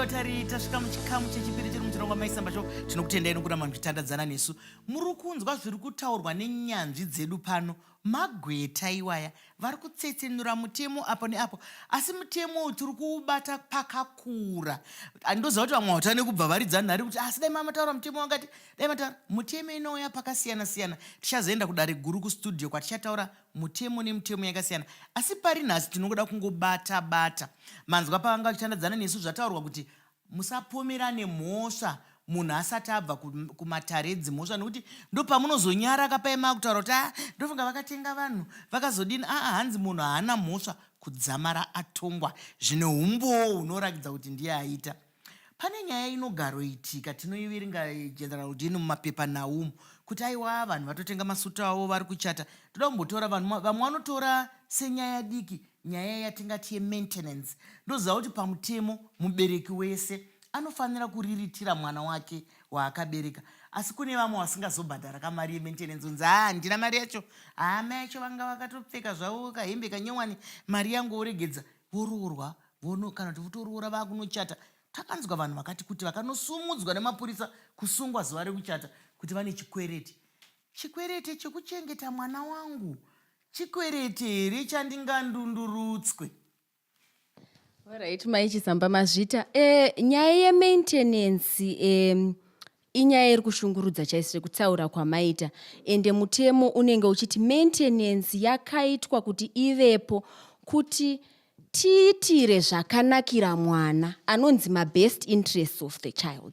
vatari tasvika muchikamu chechipiri chiri muchirongwa maisamba cho tinokutendai nokuramba muchitandadzana nesu muri kunzwa zviri kutaurwa nenyanzvi dzedu pano magweta iwaya vari kutsetsenura mutemo apo neapo asi mutemo uyu tiri kuubata pakakura andoziva kuti vamwe vatane kubva varidza nhari kuti asi dai mamataura mutemo wakati Dai mataura mutemo inouya pakasiyana siyana. Tichazoenda kudare guru kustudio kwatichataura mutemo nemutemo yakasiyana. Asi pari nhasi tinongoda kungobata bata. Manzwa pavanga vachitandadzana nesu zvataurwa kuti musapomerane mhosva munhu asati abva kumatare edzimhosva nekuti ndopamunozonyara kapaima kutaura kuti a ah, ndofunga vakatenga vanhu vakazodini aa ah, hanzi munhu haana mhosva kudzamara atongwa zvine umbowo hunorakidza kuti ndiye aita Pane nyaya inogaroitika tinoiviringa general dini mumapepa naumu kuti aiwa vanhu vatotenga masutu avo vari kuchata toda kumbotora vanhu ma- vamwe vanotora senyaya diki nyaya yatingati yemaintenance ndoziva kuti pamutemo mubereki wese anofanira kuriritira mwana wake waakabereka asi kune vamwe vasingazobhadhara kamari yemaintenance unzi haa handina mari yacho haa mai yacho vanga vakatopfeka zvavo kahembe kanyowani mari yangu woregedza voroorwa Vono kana kuti votoroora vakunochata. Takanzwa vanhu vakati kuti vakanosumudzwa nemapurisa kusungwa zuva rekuchata kuti vane chikwereti. Chikwerete chekuchengeta mwana wangu chikwerete here chandingandundurutswe? Alright, mai Chisamba Mazvita. Eh, nyaya yemaintenance eh, inyaya iri kushungurudza chaisi rekutaura kwamaita ende mutemo unenge uchiti maintenance yakaitwa kuti ivepo kuti tiitire zvakanakira mwana anonzi mabest interests of the child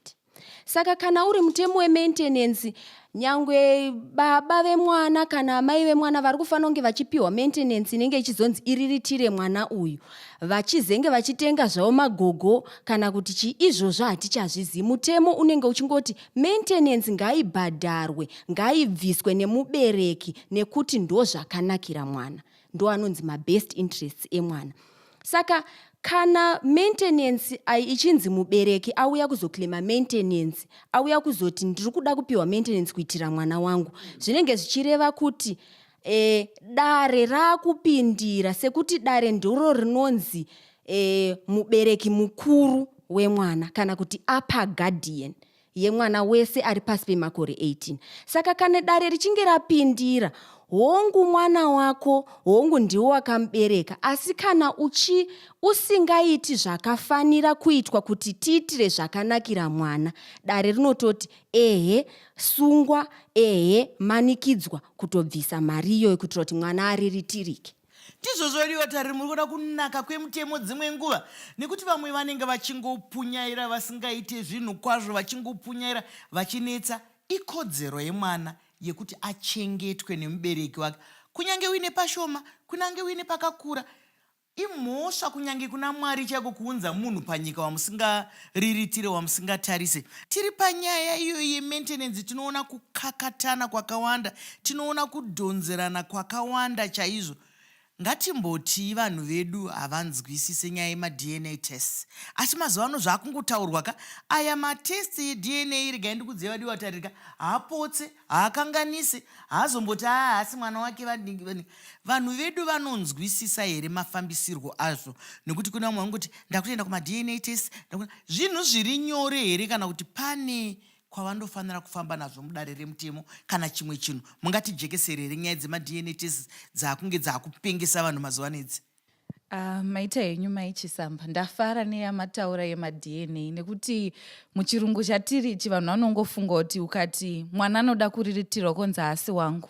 saka kana uri mutemo wemaintenance nyangwe baba vemwana kana amai vemwana vari kufanira kunge vachipiwa maintenance inenge ichizonzi iriritire mwana uyu vachizenge vachitenga zvavo magogo kana kuti chii izvozvo hatichazvizivi mutemo unenge uchingoti maintenance ngaibhadharwe ngaibviswe nemubereki nekuti ndozvakanakira mwana ndo anonzi mabest interests emwana saka kana maintenance ai ichinzi mubereki auya kuzoclaima maintenance auya kuzoti ndiri kuda kupiwa maintenance kuitira mwana wangu zvinenge zvichireva kuti e, dare raakupindira sekuti dare ndiro rinonzi e, mubereki mukuru wemwana kana kuti upper guardian yemwana wese ari pasi pemakore 18 saka kana dare richinge rapindira hongu mwana wako hongu ndiwo wakamubereka asi kana uchi usingaiti zvakafanira kuitwa kuti tiitire zvakanakira mwana dare rinototi ehe sungwa ehe manikidzwa kutobvisa mari iyoyo kuitira kuti mwana ariritirike ndizvo zvodiwa tari muri kuda kunaka kwemutemo dzimwe nguva nekuti vamwe vanenge vachingopunyaira vasingaite zvinhu kwazvo vachingopunyaira vachinetsa ikodzero yemwana yekuti achengetwe nemubereki wake kunyange uine pashoma kunyange uine pakakura Imhosva kunyange kuna Mwari chaiko kuunza munhu panyika wamusingariritire wamusingatarise. Tiri panyaya iyoyo yementenenzi tinoona kukakatana kwakawanda, tinoona kudhonzerana kwakawanda chaizvo. Ngatimbotii vanhu vedu havanzwisise nyaya yemaDNA tests. Asi mazuva ano zvaakungotaurwa ka aya matests yeDNA regai ndikudzei vadiwa taririka haapotse haakanganisi haazomboti aa ah, haasi mwana wake vadingi vadingi vanhu vedu vanonzwisisa here mafambisirwo azvo nekuti kune vamwe vanongoti ndakutoenda kumadna test zvinhu zviri nyore here kana kuti pane kwavandofanira kufamba nazvo mudare remutemo kana chimwe chinhu mungatijekesere here nyaya dzemadna test dzaakunge dzaakupengesa vanhu mazuva nedzi Uh, maita henyu mai chisamba ndafara neyamataura yemadna nekuti muchirungu chatiri ichi vanhu vanongofunga kuti ukati mwana anoda kuriritirwa konzi haasi wangu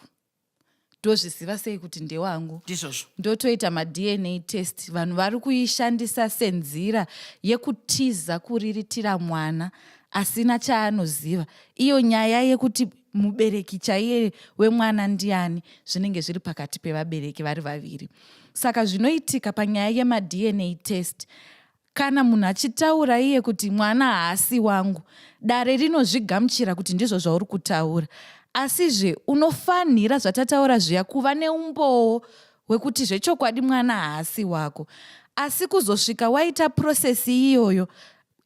ndozviziva sei kuti ndewangu ndizvozvo ndotoita madna test vanhu vari kuishandisa senzira yekutiza kuriritira mwana asina chaanoziva iyo nyaya yekuti mubereki chaiye wemwana ndiani zvinenge zviri pakati pevabereki vari vaviri saka zvinoitika panyaya yemadna test kana munhu achitaura iye kuti mwana haasi wangu dare rinozvigamuchira kuti ndizvo zvauri kutaura asizve unofanhira zvatataura zviya kuva neumbowo hwekuti zvechokwadi mwana haasi wako asi kuzosvika waita purosesi iyoyo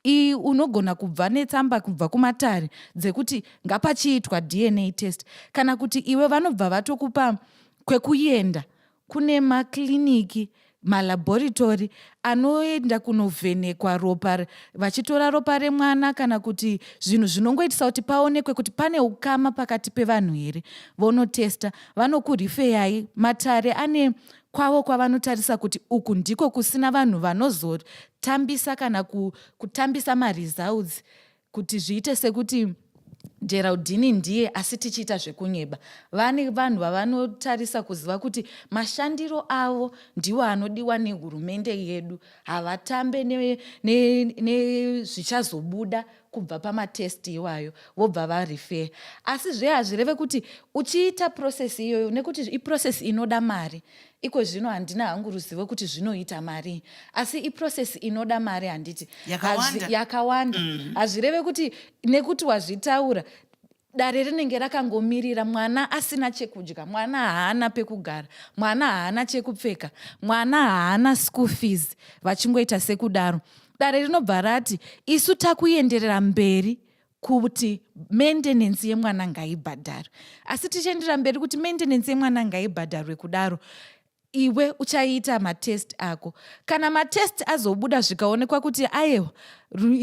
iyi unogona kubva netsamba kubva kumatare dzekuti ngapachiitwa dna test kana kuti iwe vanobva vatokupa kwekuenda kune makliniki malabhoritori anoenda kunovhenekwa ropa vachitora ropa remwana kana kuti zvinhu zvinongoitisa kuti paonekwe kuti pane ukama pakati pevanhu here vonotesta vanokurifeyai matare ane kwavo kwavanotarisa kuti uku ndiko kusina vanhu vanozotambisa kana kutambisa maresults kuti zviite sekuti geraldini ndiye asi tichiita zvekunyeba vane vanhu vavanotarisa kuziva kuti mashandiro avo ndiwo anodiwa nehurumende yedu havatambe nezvichazobuda ne, ne kubva pamatest iwayo vobva varefer asi zve hazvireve kuti uchiita process iyoyo nekuti iprocess inoda mari iko zvino handina hangu ruzivo kuti zvinoita marii asi iprocess inoda mari handiti yakawanda mm. hazvireve kuti nekuti wazvitaura dare rinenge rakangomirira mwana asina chekudya mwana haana pekugara mwana haana chekupfeka mwana haana school fees vachingoita sekudaro dare rinobva rati isu takuenderera mberi kuti maintenance yemwana ngaibhadharwe asi tichienderera mberi kuti maintenance yemwana ngaibhadharwe kudaro iwe uchaita matest ako kana matest azobuda zvikaonekwa kuti ayewa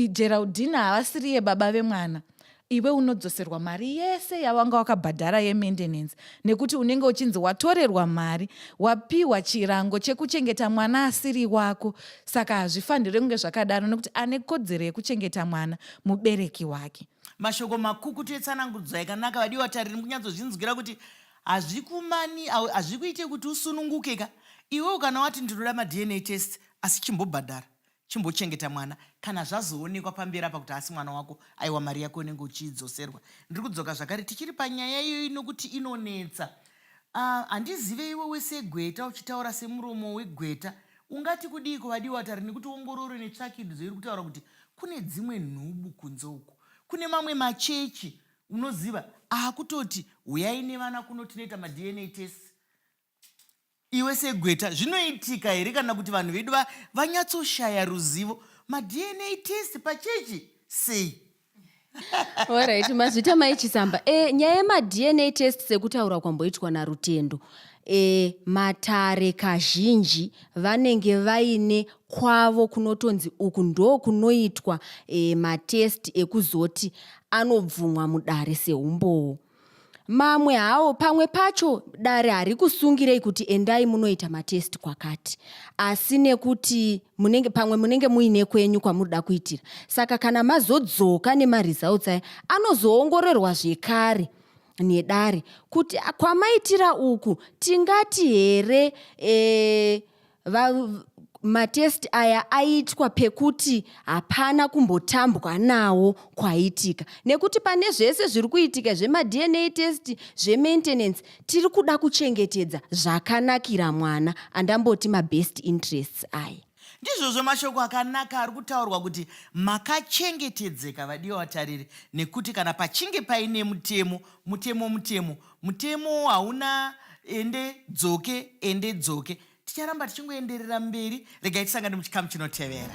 geraldina havasiriye baba vemwana iwe unodzoserwa mari yese yawanga wakabhadhara yemaintenance nekuti unenge uchinzi watorerwa mari wapiwa chirango chekuchengeta mwana asiri wako saka hazvifanire kunge zvakadaro nekuti ane kodzero yekuchengeta mwana mubereki wake mashoko makukutu etsanangudzo yakanaka vadiwa tariri kunyatsozvinzwira kuti Hazvikumani awe hazvikuite kuti usununguke ka iwewo kana wati ndinoda maDNA test asi chimbobhadhara chimbochengeta mwana kana zvazoonekwa pamberi apa kuti haasi mwana wako aiwa mari yako inenge uchiidzoserwa ndiri kudzoka zvakare tichiri panyaya iyoyi nokuti inonetsa ah, handizive uh, iwe wese gweta uchitaura semuromo wegweta ungati kudii kuvadiwa tari nekuti ongororo netsvakidzo iri kutaura kuti kune dzimwe nhubu kunze uku kune mamwe machechi unoziva akutoti huyai nevana kuno tinoita madna test iwe segweta zvinoitika here kana kuti vanhu vedu vanyatsoshaya ruzivo madna test pachechi sei orit mazvita maichisamba e, eh, nyaya yemadna test sekutaura kwamboitwa narutendo e, matare kazhinji vanenge vaine kwavo kunotonzi uku ndokunoitwa e, matest ekuzoti anobvumwa mudare seumbowo mamwe hawo pamwe pacho dare hari kusungirei kuti endai munoita matest kwakati asi nekuti munenge pamwe munenge muine kwenyu kwamunoda kuitira saka kana mazodzoka nemaresults aya anozoongororwa zvekare nedare kuti kwamaitira uku tingati here e, Va, matest aya aitwa pekuti hapana kumbotambwa nawo kwaitika nekuti pane zvese zviri kuitika zvemadna test zvemaintenance tiri kuda kuchengetedza zvakanakira mwana andamboti mabest interests aya ndizvozvo mashoko akanaka ari kutaurwa kuti makachengetedzeka vadiwa vatariri nekuti kana pachinge paine mutemo mutemo mutemo mutemo hauna ende dzoke ende dzoke ticharamba tichingoenderera mberi regai tisangane muchikamu chinotevera